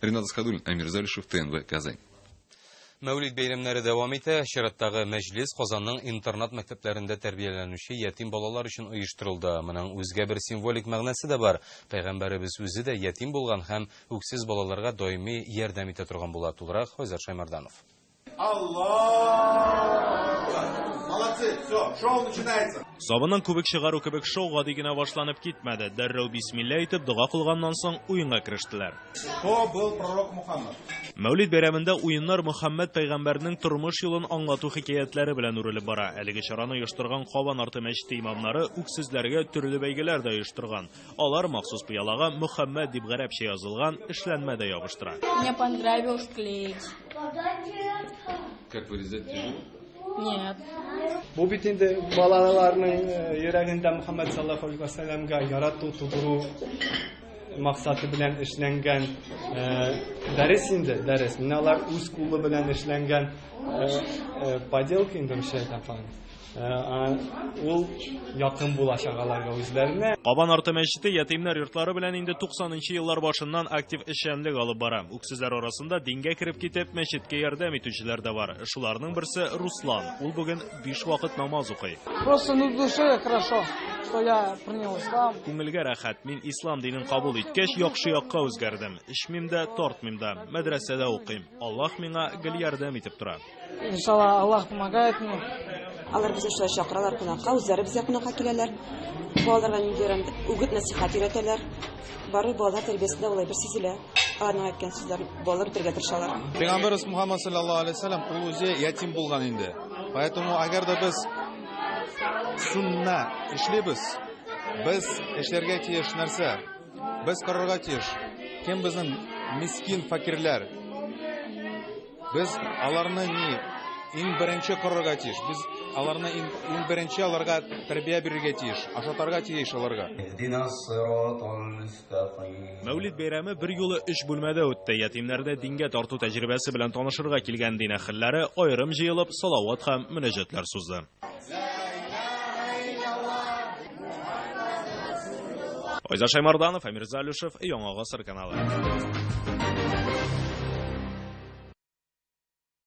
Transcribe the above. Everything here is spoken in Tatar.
Ренат Асхадуллин, Амир Залишев, ТНВ, Казань. Мәүлид бәйрәмнәре дәвам итә. Чираттагы мәҗлес Казанның интернат-мәктәпләрендә тәрбияләнүче ятим балалар өчен оештырылды. Моның үзгә бер символик мәгънәсе дә бар. Пәйгамбәребез үзе дә ятим булган һәм үксез балаларга даими ярдәм итә торган була. Тулырак Айзат Шаймарданов. Сабының күбек чыгару кебек шоу гади генә башланып китмәде. Дәррәү бисмилла әйтеп, дога кылганнан соң, уенга керештеләр. Кто был пророк Мухаммад? Мәүлид бәйрәмендә уеннар Мөхәммәд пәйгамбәрнең тормыш юлын аңлату хикәятләре белән үрелеп бара. Әлеге чараны оештырган Кабан арты мәчете имамнары үк сүзләргә төрле бәйгеләр дә оештырган. Алар махсус пыялага Мөхәммәд дип гарәпчә язылган эшләнмә дә ябыштыра. Мне понравилось клеить. Как вырезать тяжело? Нет. Бу бит инде балаларның э, йөрәгендә Мөхәммәд саллаллаху алейһи ва сәлламга ярату тудыру максаты белән эшләнгән э, дәрес инде, дәрес. Менә алар үз кулы белән эшләнгән э, поделка инде, русча әйтәм, Ул якын була чагаларга үзләренә. Кабан арты мәчете ятимнәр йортлары белән инде 90 нчы еллар башыннан актив эшчәнлек алып бара. Үксезләр арасында дингә кереп китеп, мәчеткә ярдәм итүчеләр дә бар. Шуларның берсе Руслан. Ул бүген биш вакыт намаз укый. Просто на душе хорошо, что я принял ислам. Күңелгә рәхәт. Мин ислам динен кабул иткәч, яхшы якка үзгәрдем. Эчмим дә, тартмыйм да. Мәдрәсәдә укыйм. Аллаһ миңа гел ярдәм итеп тора. Иншалла, Аллах помогает мне. Алар безне шулай чакыралар кунакка, үзләре безгә кунакка киләләр. Балаларга нинди рәмдә үгет нәсихәт өйрәтәләр. Бары балалар тәрбиясендә улай бер сизелә. Аларның әйткән сүзләр балалар үтәргә тырышалар. Пәйгамбәрбез Мухаммад саллаллаһу алейһи ва саллям ул үзе ятим булган инде. Поэтому әгәр дә без сунна эшлибез, без эшләргә тиеш нәрсә? Без карарга тиеш. Кем безнең мискин факирләр? Без аларны ни иң беренче корырга тиеш. Без аларны иң, иң беренче аларга тәрбия бирергә тиеш, ашатарга тиеш аларга. Мәүлид бәйрәме бер юлы өч бүлмәдә үтте. Ятимнәрдә дингә тарту тәҗрибәсе белән танышырга килгән дин әһелләре аерым җыелып, салават һәм мөнәҗәтләр сузды. Айза Шаймарданов, Әмир Залюшев, Яңа гасыр каналы.